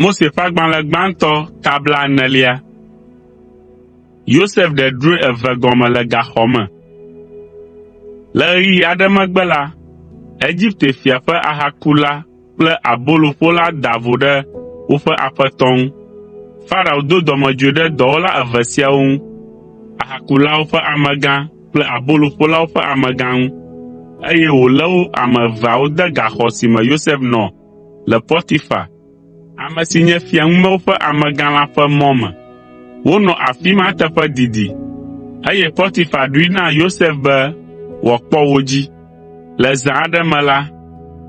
Mose ƒe agbalẽ gbãtɔ ta blaenelia. Yosef ɖe drɔ̃e eve gɔme le gaxɔ me. Le ɣeyiɣi aɖe megbe la, Egipte fia ƒe ahakula kple aboloƒola da vo ɖe woƒe aƒetɔ ŋu. Farao do dɔmedzoe ɖe dɔwɔla eve siawo ŋu, ahakulawo ƒe amegã kple aboloƒolawo ƒe amegã ŋu, eye wòlé wo ame eveawo de gaxɔ si me Yosef nɔ le Potifar, ame si nye fia ŋumewo ƒe amegã la ƒe mɔ me. Wonɔ afi ma teƒe didi, eye Potifar ɖoe na Yosef be wòakpɔ wo dzi. Le zã aɖe me la,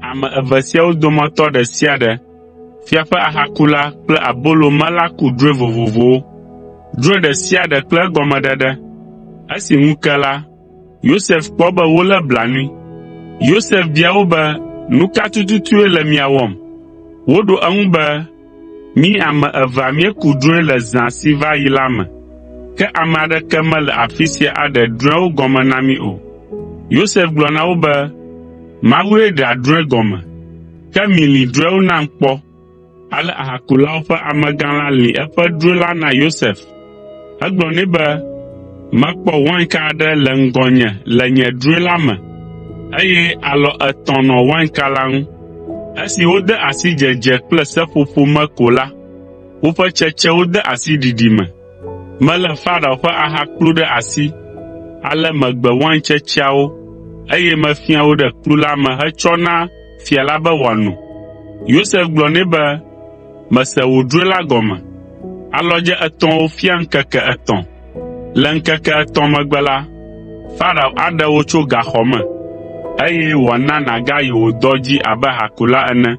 ame eve siawo dometɔ ɖe sia ɖe Fia ƒe ahakula kple abolo mela ku drɔ̃e vovovowo, drɔ̃e ɖe sia ɖe kple egɔmeɖeɖe. Esi ŋu ke la, Yosef kpɔ be wolé blanui. Yosef bia wo be, “Nu ka tututue le mia wɔm?” Woɖo eŋu be, “Mí ame evea míeku drɔ̃e le zã si va yi la me, ke ame aɖeke mele afi sia aɖe drɔ̃ewo gɔme na mí o.” Yosef gblɔ na wo be, “Mawue ɖea drɔ̃e gɔme. Ke milĩ drɔ̃ewo nam kpɔ.” Ale ahakulawo ƒe amegã la lĩ eƒe drɔ̃e la na Yosef. Egblɔ nɛ be, “Mekpɔ wainka aɖe le ŋgɔnye le nye drɔ̃e la me, eye alɔ etɔ̃ nɔ wainka la ŋu. Esi wode asi dzedze kple seƒoƒo me ko la, woƒe tsetsewo de asi ɖiɖi me. Melé Farao ƒe aha kplu ɖe asi, ale megbe waintsetseawo, eye mefia wo ɖe kplu la me hetsɔ na fia la be wòano.” Yosef gblɔ nɛ be, “Mese wò drɔ̃e la gɔme. Alɔdze etɔ̃awo fia ŋkeke etɔ̃. Le ŋkeke etɔ̃ megbe la, Farao aɖe wò tso gaxɔ me, eye wòana nàgayi wò dɔ dzi abe hakula ene.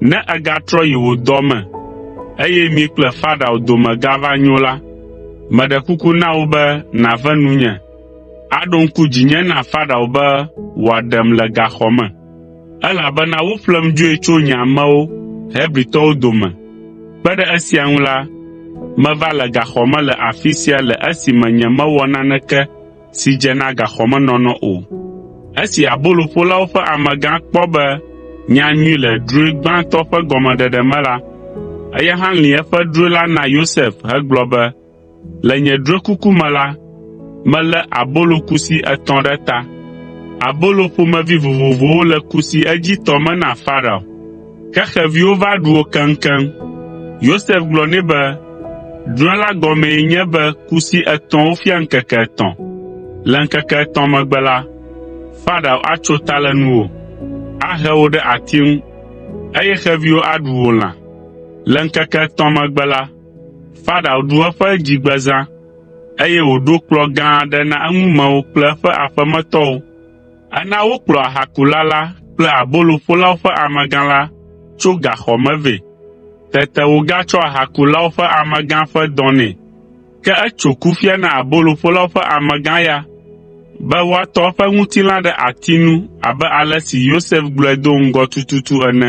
Ne ègatrɔ yi wò dɔ me, eye mi kple Farao dome gava nyo la, meɖe kuku na wò be nàve nunye, aɖo ŋku dzinye na Farao be wòaɖem le gaxɔ me, elabena woƒlem dzoe tso nye amewo Hebritɔwo dome. Kpe ɖe esia ŋu la, meva le gaxɔ me le afi sia le esime nyemewɔ naneke si dze na gaxɔmenɔnɔ o. Esi aboloƒolawo ƒe amegã kpɔ be nya nyui le drɔ̃e gbãtɔ ƒe gɔmeɖeɖe me la, eya hã lĩ eƒe drɔ̃e la na Yosef hegblɔ be, “Le nye drɔ̃ekuku me la, melé abolo kusi etɔ̃ ɖe ta. Abolo ƒomevi vovovowo le kusi edzitɔ me na Farao. Ke xeviwo va ɖu wo keŋkeŋ. Yosef gblɔ nɛ be, “Drɔ̃e la gɔmee nye be kusi etɔ̃wo fia ŋkeke etɔ̃. Le ŋkeke etɔ̃ megbe la, Farao atso ta le nuwò, ahe wò ɖe ati ŋu, eye xeviwo aɖu wò lã. Le ŋkeke etɔ̃ megbe la, Farao ɖu eƒe dzigbezã, eye wòɖo kplɔ̃ gã aɖe na eŋumewo kple eƒe aƒemetɔwo. Ena wokplɔ ahakula la kple aboloƒolawo ƒe amegã la tso gaxɔ me vɛ. Tete wogatsɔ ahakulawo ƒe amegã ƒe dɔ nɛ. Ke etso kufia na aboloƒolawo ƒe amegã ya be woatɔ eƒe ŋutilã ɖe ati nu abe ale si Yosef gblɔe do ŋgɔ tututu ene.